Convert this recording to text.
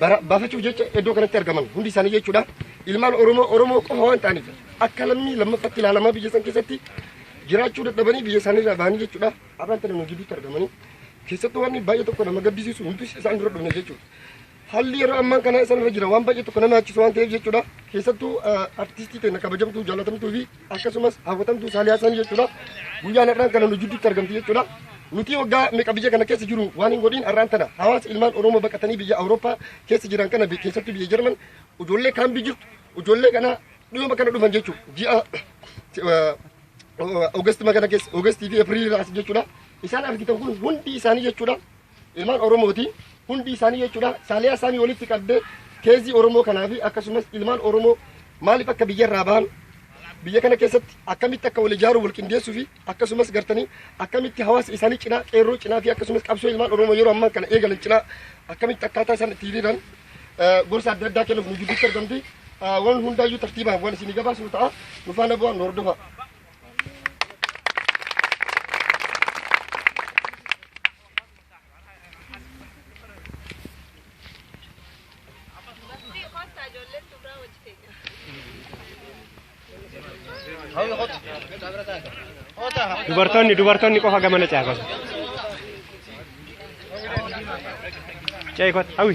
bara- baafachuuf jecha iddoo kanatti argaman hundi isaanii jechuudha. Ilmaan Oromoo Oromoo qofa waan ta'aniif akka lammii lammaffatti ilaalamaa biyya san keessatti jiraachuu dadhabanii biyya isaanii irraa bahanii jechuudha. Arraan tana nu gidduutti argamanii keessattuu waan baay'ee tokko nama gaddisiisu nuti isaan dura dhufne jechuudha. Haalli yeroo ammaa kana isaan irra jira waan baay'ee tokko nama yaachisu waan ta'eef jechuudha. Keessattuu artistii keenya kabajamtuu jaalatamtuu fi akkasumas hawwatamtuu Saaliyaa Sanii jechuudha. Guyyaan har'aan kana nu jidduutti argamti jechuudha. Nuti waggaa meeqa biyya kana keessa jiru waan hin godhin har'aan tana hawaasa ilmaan Oromoo baqatanii biyya Awurooppaa keessa jiran kana keessatti biyya Jarman ijoollee kaambii jirtu ijoollee kana dhiyoo kana dhufan jechuudha. Ji'a Oogasti magana keessa Oogasti fi Eepiriilii raas jechuudha. Isaan argitan kun hundi isaanii jechuudha. Ilmaan Oromooti hundi isaanii jechuudha saaliyaa isaanii walitti qabdee keezii Oromoo kanaa fi akkasumas ilmaan Oromoo maaliif akka biyya irraa bahan biyya kana keessatti akkamitti akka wal ijaaruu wal qindeessuu fi akkasumas gartanii akkamitti hawaasa isaanii cinaa qeerroo cinaa fi akkasumas qabsoo ilmaan Oromoo yeroo ammaa kana eegalan cinaa akkamitti akkaataa isaan itti hiriiran eh, gorsa adda addaa kennuuf nu gidduutti argamti. Eh, Waan hundaayyuu tartiibaan waan isinii gabaasnu ta'a. Nufaana bu'aa nu hordofaa. Dubartoonni dubartoonni qofa gamana caafasu. Cee kot hawi.